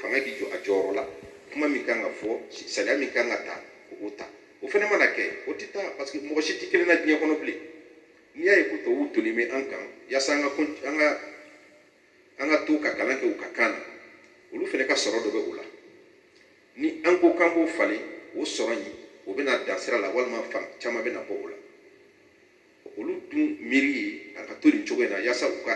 fanga k'i jɔ a jɔyɔrɔ la kuma min kan ka fɔ sariya min kan ka ta k'o ta o fana mana kɛ o tɛ taa parce que mɔgɔ si tɛ kelen na diɲɛ kɔnɔ bilen n'i y'a ye ko tubabuw toli bɛ an kan yaasa an ka an ka an ka to ka kalan kɛ u ka kan na olu fana ka sɔrɔ dɔ bɛ o la ni an ko k'an b'o falen o sɔrɔ in o bɛna dan sira la walima fan caman bɛna bɔ o la olu dun miiri a ka to nin cogo in na yaasa u ka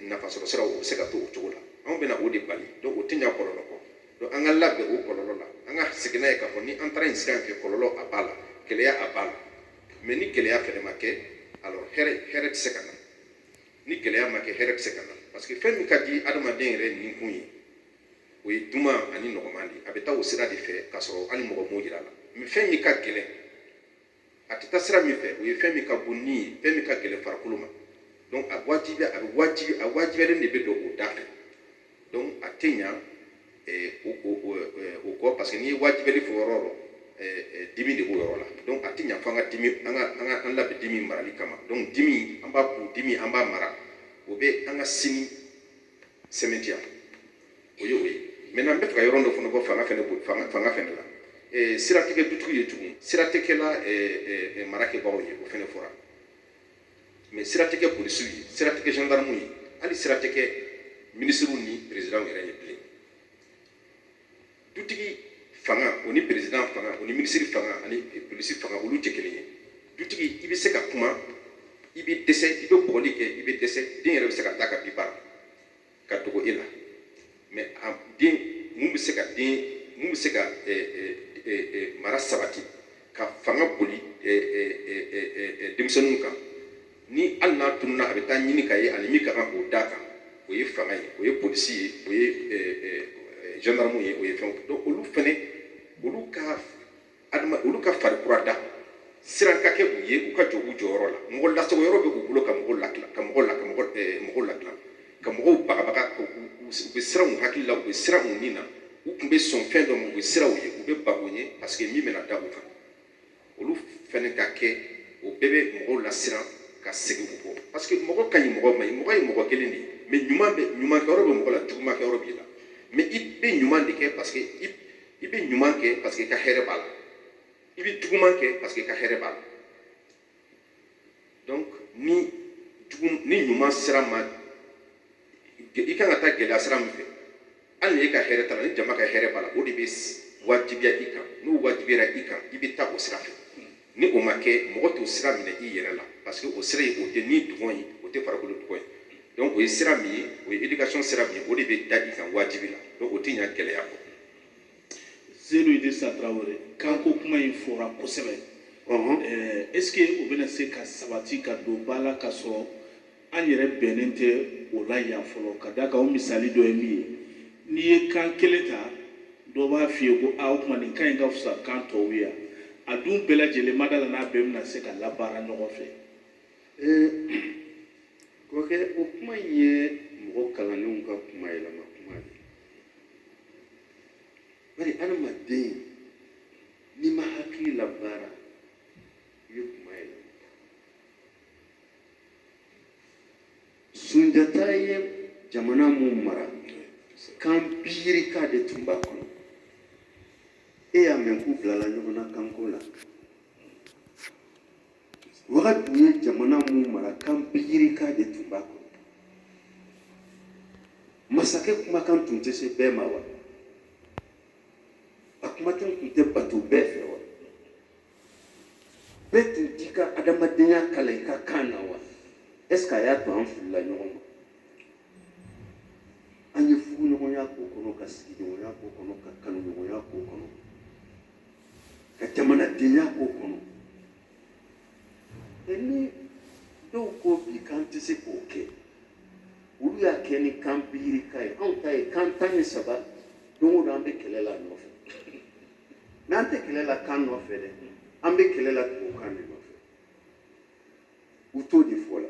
nafasɔrɔ siraw u bɛ se ka to o cogo la anw bɛna o de bali donc o tɛ ɲa kɔlɔlɔ kɔ donc an ka labɛn o kɔlɔlɔ la an ka sigi n'a ye k'a fɔ ni an taara nin sira in fɛ kɔlɔlɔ a b'a la gɛlɛya a b'a la mais ni gɛlɛya fɛnɛ ma kɛ alors hɛrɛ hɛrɛ tɛ se ka na ni gɛlɛya ma kɛ hɛrɛ tɛ se ka na parce que fɛn min ka di adamaden yɛrɛ nikun ye o ye duman ani nɔgɔman de ye a bɛ taa o sira de fɛ k'a sɔrɔ hali mɔgɔ m'o yira a la mais fɛn min ka gɛlɛn a tɛ taa sira min fɛ o ye fɛn min ka go ni ye fɛn min ka gɛlɛn farikolo ma donc a wajibi a bɛ wajibi a wajibiyalen de bɛ don o da fɛ donc a tɛ ɲa eh, o o o eh, o kɔ parce que n'i ye wajibiyali fɔ yɔrɔ yɔrɔ eh, eh, dimi de b'o yɔrɔ la donc a tɛ ɲa fo an ka dimi an ka an ka an labɛn dimi marali kama donc dimi an b'a kun dimi an b'a mara o bɛ an ka sini sɛmɛntiya o ye o ye maintenant n b'a fɛ ka yɔrɔ dɔ fana bɔ fanga fana fanga fanga fana la eh, siran tɛ kɛ dutigi ye tugun siran tɛ kɛ la eh, eh, marakɛbagaw ye o fana fɔra mais siran tɛ kɛ polisiw ye siran tɛ kɛ gendarmew ye hali siran tɛ kɛ minisiriw ni perezidantw yɛrɛ ye bilen dutigi fanga o ni perezidan fanga o ni minisiri fanga ani polisi fanga olu tɛ kelen ye dutigi i bɛ se ka kuma i bɛ dɛsɛ i bɛ bugɔli kɛ i bɛ dɛsɛ den yɛrɛ bɛ se ka taa ka bi bara ka dogo e la mais a den mun bɛ se ka den mun bɛ se ka mara sabati ka fanga boli denmisɛnninw kan ni hali n'a tununa a bɛ taa ɲini ka ye ani min ka kan k'o d'a kan o ye fanga ye o ye polisi ye o ye gendarme ye o ye fɛnw donc olu fɛnɛ olu ka adama olu ka fari kura da siran ka kɛ u ye u ka jɔ u jɔyɔrɔ la mɔgɔ lasago yɔrɔ bɛ k'u bolo ka mɔgɔw lakila ka mɔgɔw la ka mɔgɔ mɔgɔw lakila ka mɔgɔw bagabaga u bɛ siran u hakili la u bɛ siran u ni na u tun bɛ sɔn fɛn dɔ ma u bɛ siran u ye u bɛ bago ye parce que min bɛna da u kan olu fɛnɛ ka kɛ o bɛɛ bɛ mɔgɔw lasiran ka segin u kɔ parce que mɔgɔ ka ɲi mɔgɔ ma ɲi mɔgɔ ye mɔgɔ kelen de ye mais ɲuman bɛ ɲuman kɛ yɔrɔ bɛ mɔgɔ la juguman kɛ yɔrɔ b'i la mais i bɛ ɲuman de kɛ parce que i i bɛ ɲuman kɛ parce que i ka hɛrɛ b'a la i bɛ juguman kɛ parce que i ka hɛrɛ b'a la donc ni jugu ni ɲuman sira ma i kan ka taa gɛlɛya sira min fɛ hali ni e ka hɛrɛ t'a la ni jama ka hɛrɛ b'a la o de bɛ wajibiya i kan n'o wajibiyara i kan i bɛ taa o sira fɛ ni o ma kɛ mɔgɔ t'o sira minɛ i yɛrɛ la parce que o sira in o tɛ ni dungɔ ye o tɛ farikolo dungɔ ye donc o ye sira min ye o ye éducation sira min ye o de bɛ da i kan wajibi la donc o tɛ ɲa gɛlɛya kɔ Zenu sa Traore kanko kuma in fɔra kosɛbɛ eh, est ce que o bɛna se ka sabati ka don ba la ka sɔrɔ an yɛrɛ bɛnnen tɛ o la yan fɔlɔ ka da kan o misali dɔ ye min ye n'i ye kan kelen ta dɔ b'a f'i ye ko a o tuma nin kan in ka fisa kan tɔw ye a dun bɛɛ lajɛlen ma da la n'a bɛɛ bɛna se ka labaara ɲɔgɔn fɛ eh, kɔrɔkɛ o kuma in ye mɔgɔ kalannenw ka kuma yɛlɛma bari adamaden n'i ma hakili labaara i bɛ kuma yɛlɛ sunjata ye jamana min mara kan biyirika de tun b'a kɔnɔ e y'a mɛn k'u bilala ɲɔgɔn na kanko la Wagadu ye jamana min mara kan biyirika de tun b'a kɔnɔ masakɛ kumakan tun tɛ se bɛɛ ma wa a kumakan tun tɛ bato bɛɛ fɛ wa bɛɛ tun t'i ka adamadenya kalan i ka kan na wa est ce que a y'a to an filila ɲɔgɔn ma an ye furuɲɔgɔnya k'o kɔnɔ ka sigiɲɔgɔnya k'o kɔnɔ ka kanuɲɔgɔnya k'o kɔnɔ ka jamanadenya k'o kɔnɔ mais ni dɔw ko bi k'an tɛ se k'o kɛ olu y'a kɛ ni kan biyirika ye anw ta ye kan tan ni saba don o don an bɛ kɛlɛ la nɔfɛ n'an tɛ kɛlɛ la kan nɔfɛ dɛ an bɛ kɛlɛ la tubabukan de nɔfɛ u t'o de fɔ la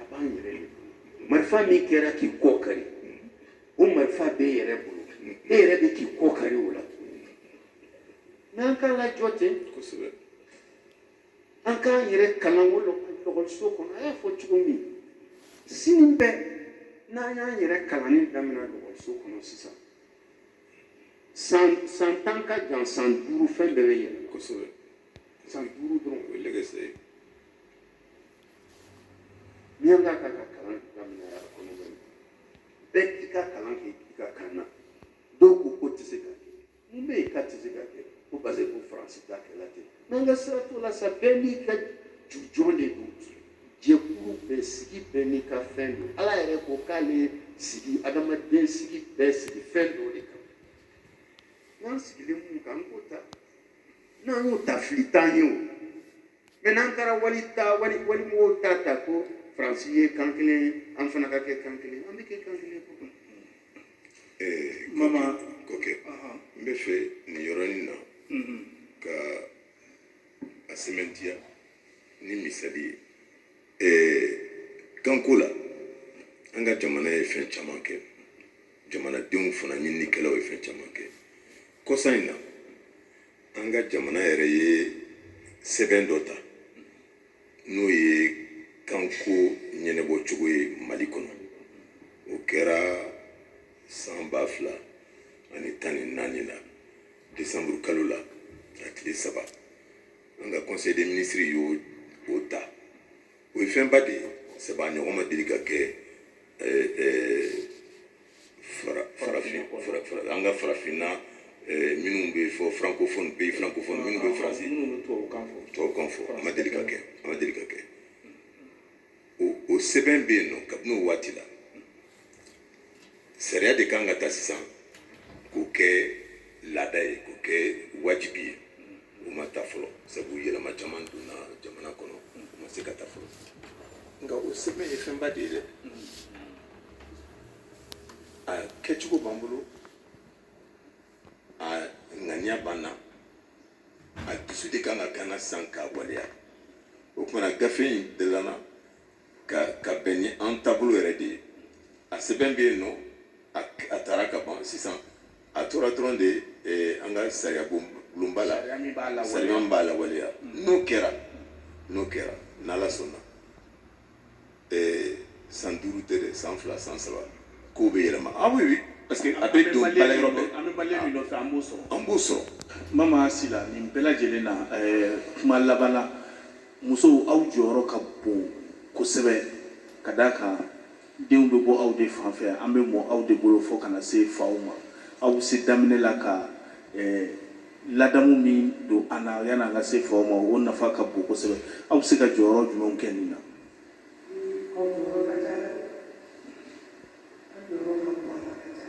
a b'an yɛrɛ de bolo marifa min kɛra k'i kɔ kari o marifa b'e yɛrɛ bolo e yɛrɛ bɛ k'i kɔ kari o la n'an k'a lajɔ ten kosɛbɛ an k'an yɛrɛ kalan o lakɔliso kɔnɔ a y'a fɔ cogo min sini bɛɛ n'an y'an yɛrɛ kalanni daminɛ lakɔliso kɔnɔ sisan san san tan ka jan san duuru fɛn bɛɛ bɛ yɛlɛ kosɛbɛ san duuru dɔrɔn o ye lɛgɛsɛ ye Ni an ka kan ka kalan daminɛ a kɔnɔ bɛɛ k'i ka kalan kɛ i ka kan na dɔw ko k'o tɛ se ka kɛ mun bɛ yen k'a tɛ se ka kɛ ko parce que ko faransi ta kɛla ten n'an ka sira t'o la sa bɛɛ n'i ka jujɔn de don jɛkulu bɛɛ sigi bɛɛ n'i ka fɛn don ala yɛrɛ ko k'ale sigi adamaden sigi bɛɛ sigi fɛn dɔ de kan n'an sigilen min kan an k'o ta n'an y'o ta fili t'an ye o mais n'an taara wali ta wali wali mɔgɔw ta ta ko faransi ye kan kelen ye an fana ka kɛ kan kelen an bɛ kɛ kan kelen ko kan mama ko kɛ n b'a fɛ nin yɔrɔnin na mhm. ka a sɛmɛntiya ni misali ye eh, kanko la an ka jamana ye fɛn caman kɛ jamanadenw fana ɲininikɛlaw ye fɛn caman kɛ kɔsa in na an ka jamana yɛrɛ ye sɛbɛn dɔ ta n'o ye kanko ɲɛnabɔ cogo ye mali kɔnɔ o kɛra san ba fila ani tan ni naani la desanburu kalo la a tile saba an ka conseil des ministres y'o o ta o ye fɛnba de ye sabu a ɲɔgɔn ma deli ka kɛ farafin an ka farafinna minnu bɛ fɔ francophonie pays francophones minnu bɛ faransi tubabukan fɔ a ma deli ka kɛ a ma deli ka kɛ o sɛbɛn bɛ yen nɔ kabini o waati la sariya de kan ka ta sisan k'o kɛ laada ye k'o kɛ wajibi ye o ma ta fɔlɔ sabu yɛlɛma caman donna jamana kɔnɔ o ma se ka ta fɔlɔ nka o sɛbɛn ye fɛnba de ye dɛ a kɛcogo b'an bolo a ŋaniya b'an na a dusu de kan ka k'an na sisan k'a waleya o tuma na gafe in dilanna ka ka bɛn ni an taabolo yɛrɛ de ye a sɛbɛn bɛ yen nɔ a tara ka ban sisan a tora dɔrɔn de eh, an ka sariya bulonba la sariya min b'a lawaleya mm. n'o kɛra n'o kɛra n'ala sɔnna eh, san duuru tɛ dɛ san fila san saba kow bɛ yɛlɛma ah oui oui parce que a bɛ don baarayɔrɔ bɛɛ an bɛ baliya min nɔfɛ an b'o sɔrɔ an b'o sɔrɔ mama sila nin bɛɛ lajɛlen na eh, kuma laban na Musow aw jɔyɔrɔ ka bon kosɛbɛ ka d'a kan denw bɛ bɔ aw de fan fɛ, an bɛ mɔ aw de bolo fɔ ka na se faw ma. Aw bɛ se daminɛ la ka ladamu min don an na yanni an ka se faw ma, o nafa ka bon kosɛbɛ. Aw bɛ se ka jɔyɔrɔ jumɛnw kɛ nin na? Aw jɔyɔrɔ ka ca dɛ! Aw jɔyɔrɔ ka bon a la ka ca.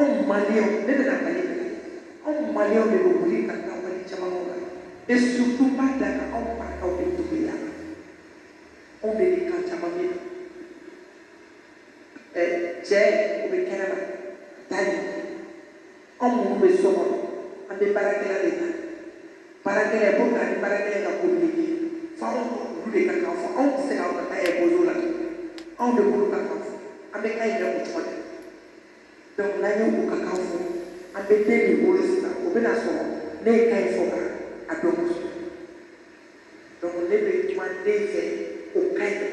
anw maliyɛnw ne bɛna mali de la anw maliyɛnw de bɛ wuli ka taa wali jamanaw la et surtout n b'a da ka anw marakaw de tobi la anw de bɛ kan caman mɛn ɛ cɛ o bɛ kɛnɛma taa yen anw minnu bɛ so kɔnɔ an bɛ baarakɛla de ta baarakɛla ye komi ani baarakɛla ka communiqué fo anw olu de ka kan fɔ anw tɛ se ka anw ka kan imposé o la tuguni anw de b'olu ka kan fɔ an bɛ kan yɛrɛ o cogo de la donc n'an ye u ka kan fɔ an bɛ den min wolo sisan o bɛna sɔrɔ ne ye kan in fɔ ka a dɔn kosɛbɛ donc ne bɛ kuma den fɛ o kan in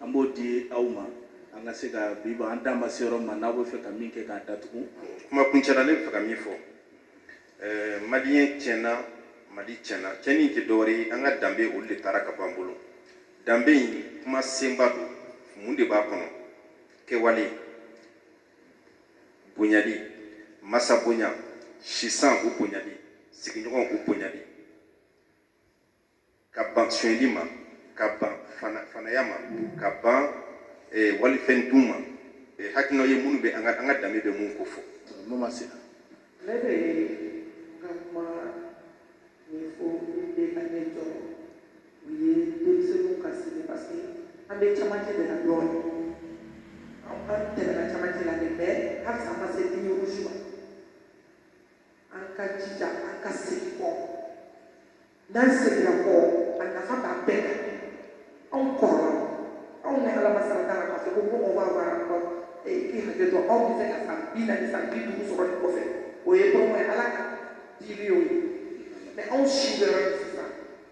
an b'o di aw ma an ka se ka biba an dan ma se yɔrɔ ma n'aw bɛ fɛ ka min kɛ k'a datugu kuma kuncɛla ne bɛ fɛ ka min fɔ ɛɛ maliyɛn tiɲɛna mali tiɲɛna tiɲɛni tɛ dɔwɛrɛ ye an ka danbe olu de taara ka b'an bolo danbe in kuma senba don mun de b'a kɔnɔ kɛwale bonyali masa bonya sisan o bonyali sigiɲɔgɔn o bonyali ka ban sonyɛli ma ka ban fanaya ma ka ban eh, walifɛn dun ma eh, hakilina ye minnu bɛ an ka an ka danbe bɛ mun ko fɔ n'o ma se ne bɛ ka kuma min fɔ min bɛ an jɔrɔ o ye denmisɛnninw ka sini parce que an bɛ camancɛ de la dɔɔnin an tɛmɛna camancɛ la de mais halisa an ma se ligne rouge ma an ka jija an ka segin kɔ n'an seginna kɔ a nafa b'an bɛɛ kan anw kɔrɔla anw ni ala ma saraka la k'a fɔ ko mɔgɔ b'a baara kɔ ee k'i hakɛ to aw bɛ se ka san bi naani san bi duuru sɔrɔ nin kɔfɛ o ye dɔgɔ ye ala ka dili y'o ye mais anw si bɛ yɔrɔ min sisan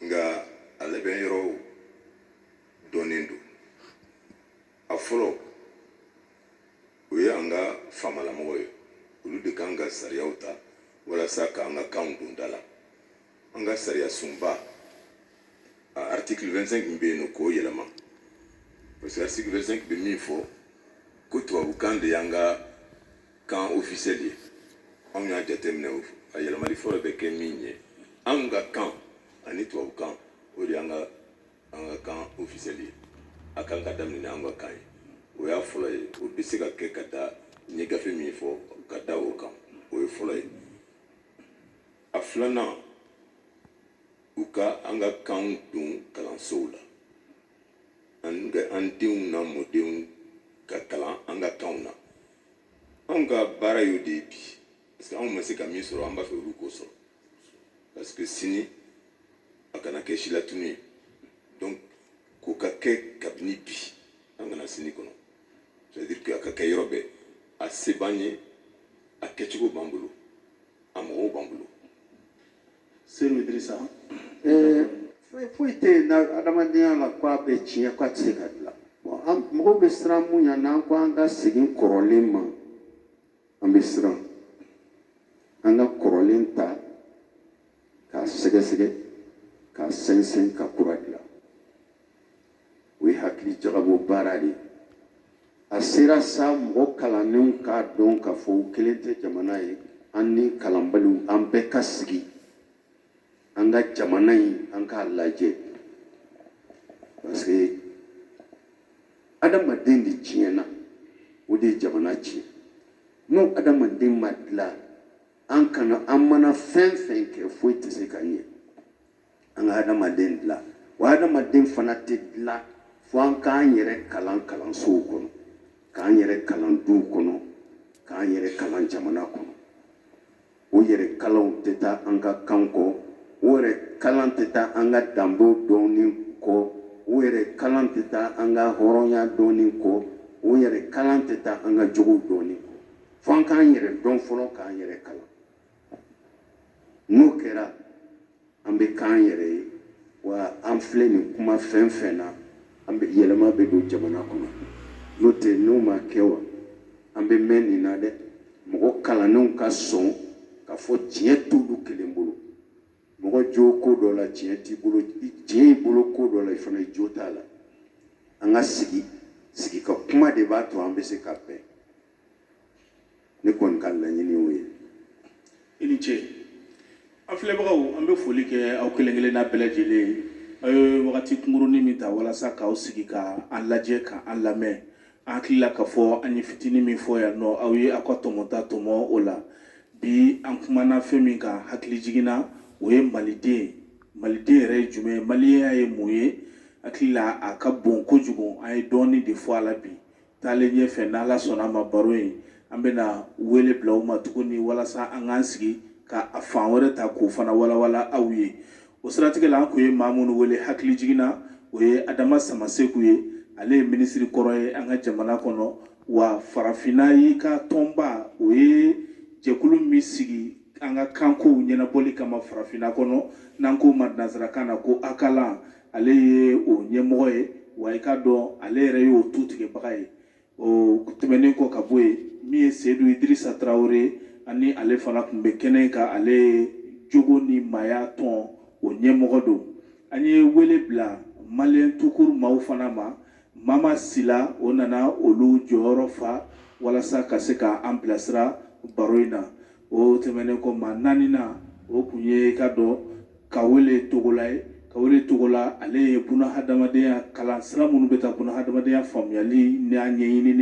nka a labɛn yɔrɔw dɔnnen don a fɔlɔ o ye an ka faamalamɔgɔ ye olu de kan ka sariyaw ta walasa k'an ka kanw don da la an ka sariya sunba a article 25 min bɛ yen u k'o yɛlɛma parce que article 25 bɛ min fɔ ko tubabukan de y'an ka kan ofisɛli ye anw y'a jateminɛ a yɛlɛmali fɔlɔ bɛ kɛ min ye anw ka kan ani tubabu kan o de y'an ka an ka kan ofisɛli ye a kan ka daminɛ ni an ka kan ye o y'a fɔlɔ ye o bɛ se ka kɛ ka da n ye gafe min fɔ ka da o kan o ye fɔlɔ ye a filanan u ka an ka kanw don kalansow la an denw n'an mɔdenw ka kalan an ka kanw na anw ka baara y'o de ye bi parce que anw ma se ka min sɔrɔ an b'a fɛ olu k'o sɔrɔ parce que sini a kana kɛ silatunu ye donc k'o ka kɛ kabini bi an kana sini kɔnɔ ça veut dire que a ka kɛ yɔrɔ bɛɛ a se b'an ye a kɛcogo b'an bolo a mɔgɔw b'an bolo Eh, foyi foyi tɛ yen na adamadenya la ko a bɛ tiɲɛ ko a tɛ se ka dilan an mɔgɔw bɛ siran mun ɲa n'an ko an ka segin kɔrɔlen ma an bɛ siran an ka kɔrɔlen ta k'a sɛgɛsɛgɛ k'a sɛnsɛn ka kura dilan o ye hakili jagabɔ baara de ye a sera sa mɔgɔ kalannenw k'a dɔn k'a fɔ u kelen tɛ jamana ye an ni kalanbaliw an bɛɛ ka sigi an ka jamana in an k'a lajɛ parce que adamaden de tiɲɛna o de ye jamana tiɲɛ ni adamaden ma dilan an kana an mana fɛn fɛn kɛ foyi tɛ se ka ɲɛ an ka hadamaden dilan wa hadamaden fana tɛ dilan fo an k'an yɛrɛ kalan kalansow kɔnɔ k'an yɛrɛ kalan duw kɔnɔ k'an yɛrɛ kalan jamana kɔnɔ o yɛrɛ kalan tɛ taa an ka kan kɔ o yɛrɛ kalan tɛ taa an ka danbew dɔnni kɔ o yɛrɛ kalan tɛ taa an ka hɔrɔnya dɔnni kɔ o yɛrɛ kalan tɛ taa an ka jogow dɔnni kɔ fo an k'an yɛrɛ dɔn fɔlɔ k'an yɛrɛ kalan n'o kɛra an bɛ k'an yɛrɛ ye wa an filɛ nin kuma fɛn fɛn na an bɛ yɛlɛma bɛ don jamana kɔnɔ n'o tɛ n'o ma kɛ wa an bɛ mɛn nin na dɛ mɔgɔ kalannenw ka sɔn k'a fɔ tiɲɛ t'olu kelen bolo mɔgɔ jo ko dɔ la tiɲɛ t'i bolo tiɲɛ y'i bolo ko dɔ la i fana jo t'a la an ka sigi sigi ka kuma de b'a to an bɛ se ka bɛn ne kɔni ka laɲini y'o ye i ni ce an filɛbagaw an bɛ foli kɛ aw kelen kelenna bɛɛ lajɛlen ye aw ye wagati kunkurunin min ta walasa k'aw sigi ka an lajɛ ka an lamɛn an hakili la k'a fɔ an ye fitinin min fɔ yan nɔ aw ye aw ka tɔmɔta tɔmɔ o la bi an kumana fɛn min kan hakilijigin na o ye maliden ye maliden yɛrɛ ye jumɛn ye maliyenya ye mun ye hakili la a ka bon kojugu an ye dɔɔnin de fɔ a la bi taalen ɲɛfɛ n'ala sɔnna a ma baro ye an bɛna wele bila u ma tuguni walasa an k'an sigi ka a fan wɛrɛ ta k'o fana walawala aw ye o siratigɛ la an tun ye maa minnu wele hakilijigin na o ye adama samaseku ye ale ye minisiri kɔrɔ ye an ka jamana kɔnɔ wa farafinna in ka tɔnba o ye jɛkulu min sigi an ka kanko ɲɛnabɔli kama farafinna kɔnɔ n'an k'o ma nansarakan na ko akalan ale ye o ɲɛmɔgɔ ye wa i k'a dɔn ale yɛrɛ y'o tutigɛbaga ye o tɛmɛnen kɔ ka bɔ yen min ye seyidu idirisa tarawele ye ani ale fana tun bɛ kɛnɛ kan ale jogo ni maaya tɔn o ɲɛmɔgɔ don an ye wele bila maliyɛn tukuru maaw fana ma mama sila o nana olu jɔyɔrɔ fa walasa ka se ka an bilasira baro in na o tɛmɛnen kɔ maa naaninan o tun ye ka dɔn kawele togola ye kawele togola ale ye buna hadamadenya kalan sira minnu bɛ taa buna hadamadenya faamuyali n'a ɲɛɲinini